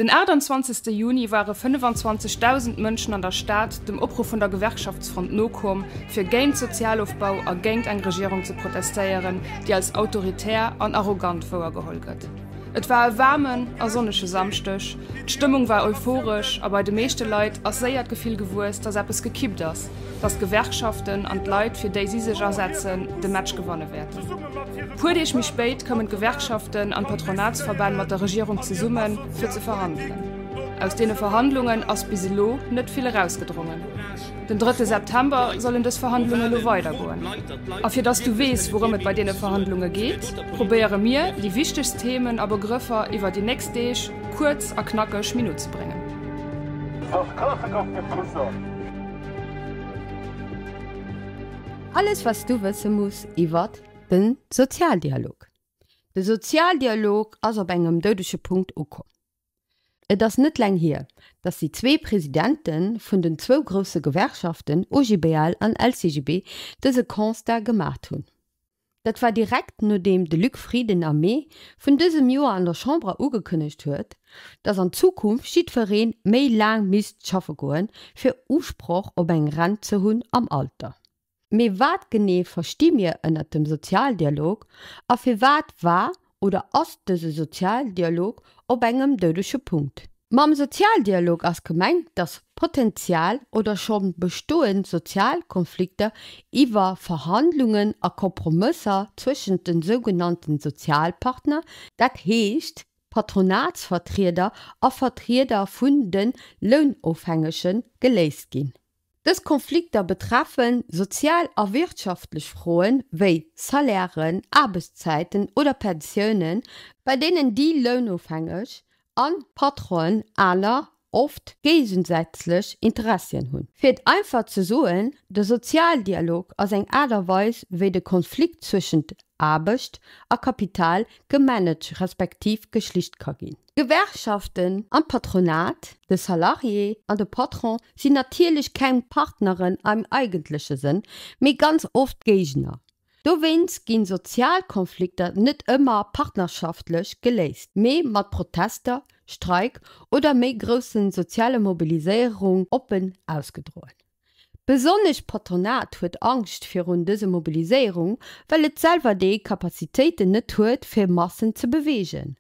Den 28 Juni ware 25.000 Mënschen an der Stad dem Opruff vun der Gewerkschaftsfront nokomm, fir géint Sozialofbau a géint eng Regierung ze protestéieren, déi als autoritär an arrogant wouergeholl gëtt. Et war e waarmen a sonnege Samschdeg, d'Stëmmung war euphoresch a bei de meeschte Leit ass séier d'Gefill gewuess, datt eppes gekippt ass, datt d'Gewerkschaften an d'Leit, fir déi si sech asetzen, de Match gewanne wäerten. Puer Deeg méi spéit koumen d'Gewerkschaften an d'Patronatsverbänn mat der Regierung zesummen, fir ze verhandelen. Aus deene Verhandlungen ass bis elo net vill erausgedrongen. Den drëtte September sollen dës Verhandlunge lo weidergoen. A fir datt s du weess, wourëm et bei deene Verhandlunge geet, probéiere mir, déi wichtegst Themen a Begrëffer iwwer déi nächst Deeg kuerz a knackeg minutzebréngen. Sos klass ech op de Fusser. Alles wats du wësse muss iwwert de Sozialdialog. De Sozialdialog ass op engem doudege Punkt ukomm. Et ass net laang hier, datt déi zwee Presidente vun den zwou grousse Gewerkschaften OGBL an LCGB dëse Constat gemaacht hunn. Dat war direkt nodeem de Luc Frieden am Mee vun dësem Joer an der Chamber ugekënnegt huet, datt an Zukunft jiddweree méi laang misst schaffe goen, fir Usproch op eng Rent ze hunn am Alter. Mee wat genee versti mir ënnert dem Sozialdialog a firwat war Oder ass dëse Sozialdialog op engem doudege Punkt? Mam Sozialdialog ass gemengt, datt potenziell oder scho bestoend sozial Konflikter iwwer Verhandlungen a Kompromësser zwëschent de sougenannte Sozialpartner, dat heescht Patronatsvertrieder a Vertrieder vun de Lounofhängege geléist ginn. Dës Konflikter betreffen sozial a wirtschaftlech Froen, wéi Salairen, Aarbechtszäiten oder Pensiounen, bei deenen déi Lounofhängeg an d'Patronen aner, oft géigensätzlech Interessien hunn. Fir et einfach ze soen, de Sozialdialog ass eng Aart a Weis, wéi de Konflikt zwëschent Aarbecht a Kapital gemanaged respektiv geschlicht ka ginn. D'Gewerkschaften an d'Patronat, de Salarié an de Patron sinn natierlech keng Partneren am eigentleche Sënn, mee ganz oft Géigner. Dowéinst ginn sozial Konflikter net ëmmer partnerschaftlech geléist, mee mat Protester, Streik oder méi grousse soziale Mobiliséierung oppen ausgedroen. Besonnesch d'Patronat huet Angscht virun dëse Mobiliséierung, well et selwer déi Kapazitéiten net huet fir Massen ze beweegen.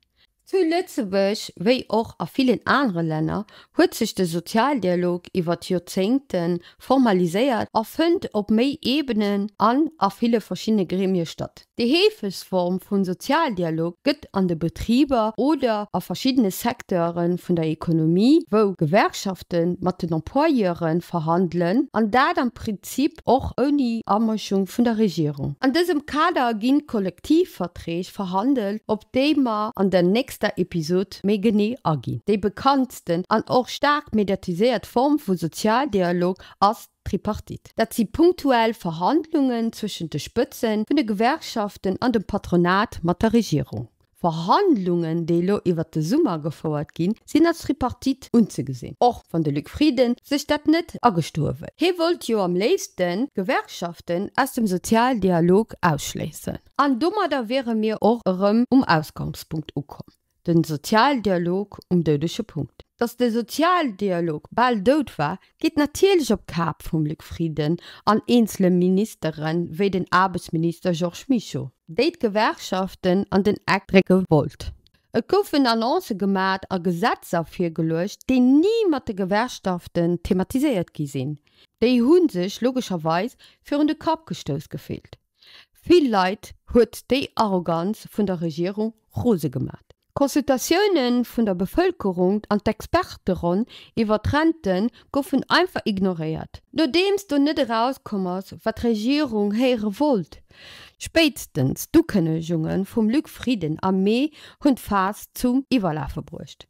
Zu Lëtzebuerg, wéi och a villen anere Länner, huet sech de Sozialdialog iwwer d'Joerzéngte formaliséiert a fënnt op méi Ebenen an a ville verschiddene Gremie statt. Déi heefegst Form vun Sozialdialog gëtt an de Betriber oder a verschiddene Secteure vun der Ekonomie, wou Gewerkschafte mat den Employeure verhandelen, an dat am Prinzip och ouni Amëschung vun der Regierung. An dësem Kader ginn d'Kollektivverträg verhandelt, op déi mer an der nächster Episod méi genee aginn. Déi bekanntsten an och staark mediatiséiert Form vu Sozialdialog ass Tripartite. Dat si punktuell Verhandlungen zwëschent de Spëtzen vun de Gewerkschaften an dem Patronat mat der Regierung. Verhandlungen, déi elo iwwert de Summer gefouert ginn, sinn als Tripartite unzegesinn, och wann de Luc Frieden sech dat net agestoe wëll. Hie wollt jo am léifsten d'Gewerkschaften aus dem Sozialdialog ausschléissen. An domadder wiere mir och erëm um Ausgangspunkt ukomm. Den Sozialdialog um doudege Punkt. Dass de Sozialdialog bal dout war, geet natierlech op d'Kap vum Luc Frieden an eenzele Ministere wéi den Aarbechtsminister Georges Mischo, déi d'Gewerkschaften an den Eck drécke wollt. Et goufen Annoncë gemat a Gesetzer virgeluecht, déi ni mat de Gewerkschaften thematiséiert gi sinn. Déi hu sech logescherweis virun de Kapp gestouss gefillt. Vill Leit huet déi Arroganz vun der Regierung rose gemat. D'Consultatioune vun der Bevëlkerung an d'Experteronn iwwer d'Rente goufen einfach ignoréiert. Nodeems do net erauskomm ass, wat d'Regierung héiere wollt, spéitstens d'Ukënnegunge vum Luc Frieden am Mee hunn d'Faass zum Iwwerlafe bruecht.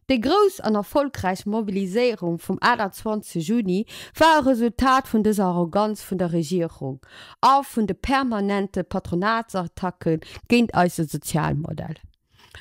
Déi grouss an erfolgräich Mobiliséierung vum 28 Juni war e Resultat vun dëser Arroganz vun der Regierung a vun de permanente Patronatsattacke géint eise Sozialmodell.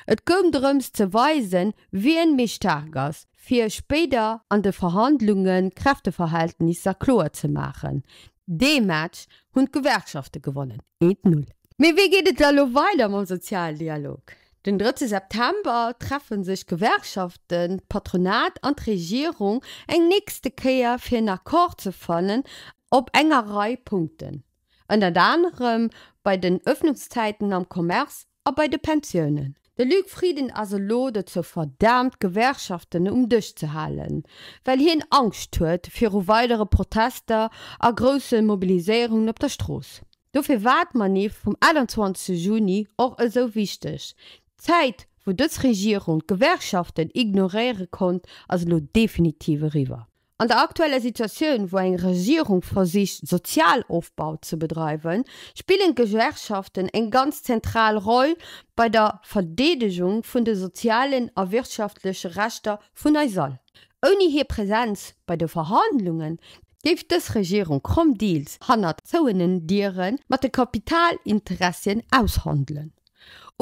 Et goung drëms ze weisen, wien méi staark ass, fir spéider an de Verhandlunge Kräfteverhältnisser kloer ze maachen. Dee Match hunn d'Gewerkschafte gewonnen, eent Null. Mee wéi geet et da elo weider mam Sozialdialog? Den drëtte September treffe sech d'Gewerkschaften, d'Patronat an d'Regierung eng nächste Kéier fir en Accord ze fannen op enger Rei Punkten, ënnert anerem bei den Ëffnungszäiten am Commerce a bei de Pensiounen. De Luc Frieden ass elo dozou verdaamt d'Gewerkschaften um Dësch ze halen, well hien Angscht huet viru weidere Protester a grousse Mobiliséierungen op der Strooss. Dofir war d'Manif vum 21 Juni och esou wichteg. D'Zäit, wou dës Regierung d'Gewerkschaften ignoréiere konnt, ass elo definitiv eriwwer. An der aktueller Situatioun, wou eng Regierung versicht, Sozialofbau ze bedreiwen, spillen d'Gewerkschaften eng ganz zentral Roll bei der Verdeedegung vun de sozialen a wirtschaftleche Rechter vun eis all. Ouni hir Presenz bei de Verhandlungen géif dës Regierung kromm Deals hannert zouenen Diere mat de Kapitalinteressien aushandelen.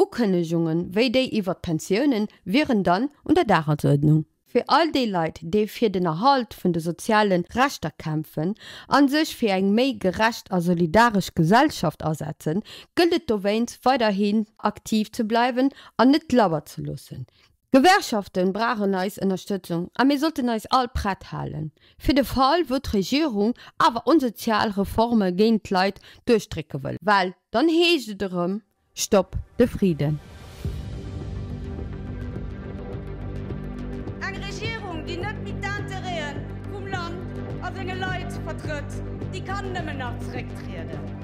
Ukënnegunge wéi déi iwwer d'Pensiounen wieren dann un der Dagesuerdnung. Fir all déi Leit, déi fir den Erhalt vun de soziale Rechter kämpfen a sech fir eng méi gerecht a solidaresch Gesellschaft asetzen, gëllt et dowéinst weiderhin aktiv ze bleiwen an net labber ze loossen, D'Gewerkschaften brauchen eis Ënnerstëtzung a mir sollten eis all prett halen, fir de Fall wou d'Regierung awer onsozial Reforme géint d'Leit duerchdrécke wëll, well dann heescht et erëm, Stopp de Friden! Eng Regierung, déi net méi d'Intérêt'e vum Land a senge Leit vertrëtt, déi kann nëmmen nach zerécktrieden.